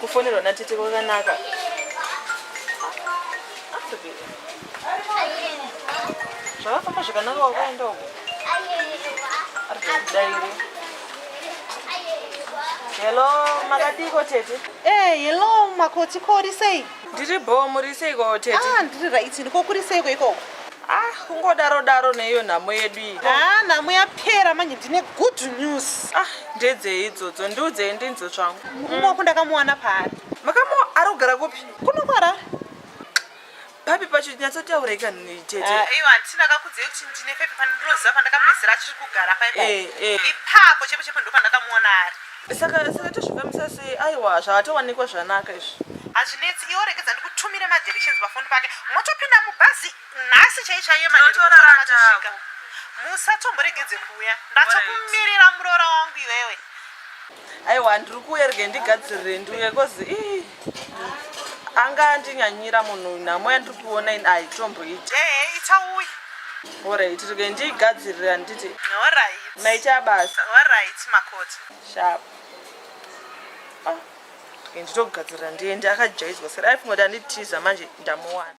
kufonerwa natete kwakanaka zvakafamba zvakanaka wakaenda uko arikudaire hello makadiko tete e eh, hello makotikori sei Ndiri bhoo muri seiko tete? Ah, ndiri right ndiko kuri seiko ikoko? Ah, kungodaro daro neiyo nhamo yedu iyi. Ah, nhamo yapera manje ndine good news. Ah, ndedzei idzodzo ndiudzei ndinzo zvangu. Murume wako ndakamuwana paari. Makamu ari kugara kupi? Kuno kwara. Papi pacho nyatsotaura ikani nei tete? Ah, eh, iwa ndisina kakudzei kuti ndine pepi pandinoziva pandakapedzera achiri kugara paipo. Eh, eh. Ipapo chepo chepo ndopandakamuona ari. saka saka tozvifambisa sei aiwa zvakatowanikwa zvanaka izvi hazvinetsi iwo regedza ndikutumire madirections pafoni pake motopinda mubhazi nhasi chai chaiye maneotoramatosvika musatomboregedze kuuya ndatokumirira muroora wangu iwewe aiwa ndiri kuuya rege ndigadzirire ndiuye kozi ii anga andinyanyira munhu uyu nhamo yandiri kuona ini haitomboiti ehe itauyi orit rege ndiigadzirira nditi orit maita basa orit makoti shap ah, nditogadzirira ndiende akajaizwa sera aifunga kuti anditiza manje ndamuwana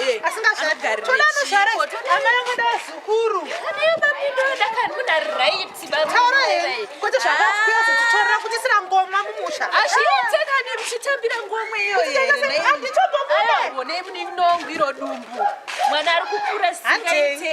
Eh, asingazvare toda anozvare amai angu da zukuru taura here kuti zvakakuya zvotitorera kuti sira ngoma mumusha azviitekanemuchitambira ngoma iyoyoandichobobonei munenongwiro dumbu mwana ari kukura sikaite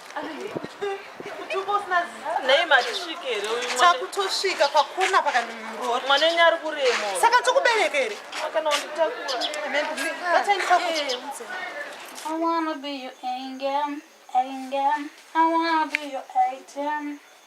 takutosvika pakona pakandimuroora mwana wenyu ari kurema saka tokubereka here kana wanditakura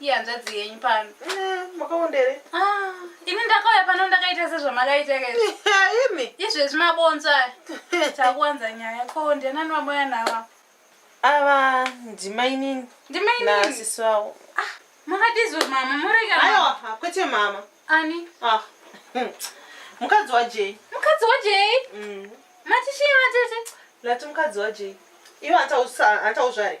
ihanzvadzi yenyu pano makaondere ah, ini ndakauya pano ndakaita sezvamakaita imi izvezvi mabonzo aya takuwanza nyaya ko ndianani vamoya nava ava ndimainini ndimaininiasisi vavo ah, makadizwe mama murega aiwa kwete mama ani ah, hm. mukadzi wajei mukadzi wajei mm. matichii matete lati mukadzi wajei ivo antauzvare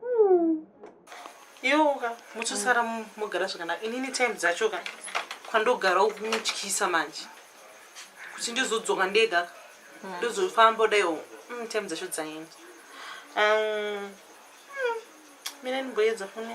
hmm. iwo ka muchosara mogara zvakanaka inini time dzacho ka kwandogara kumutyisa manje kuti ndizodzoka ndega ka hmm. ndozofamba daiwo hmm, time dzacho dzaenda um, mina ndimboedza foni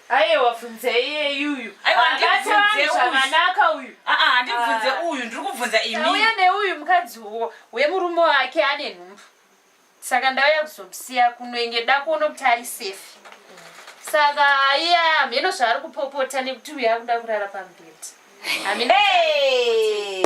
Aiwa funze iyeyuyu. Aiwa ndibvunze zvakanaka uyu. Ah ah ndibvunze ah. uyu ndiri kubvunza imi. Uya neuyu mukadzi wo wemurume wake ane nhumbu. Saka ndauya kuzomusiya kunoenge dako unokuti ari safe. Saka iya mheno zvaari kupopota nekuti uyu akuda kurara pamubhedha. Amina. Hey!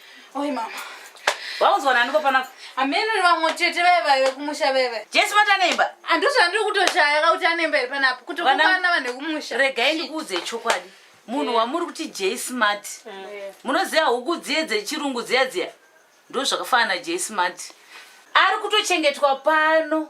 Oi mama. Waunzwa nani kopana? Ameno ni vamwe chete vaya vaya vekumusha vaya vaya. Jesu vati anemba. Andizvo ah, andiri kutoshaya ka kuti anemba iri panapa. Kuti kupana vanhu vekumusha. Regai ndikuudze chokwadi. Munhu wamuri kuti J Smart. Mm. Munoziva huku dziye dzechirungu dziya dziya. Ndozvakafanana J Smart. Ari kutochengetwa pano.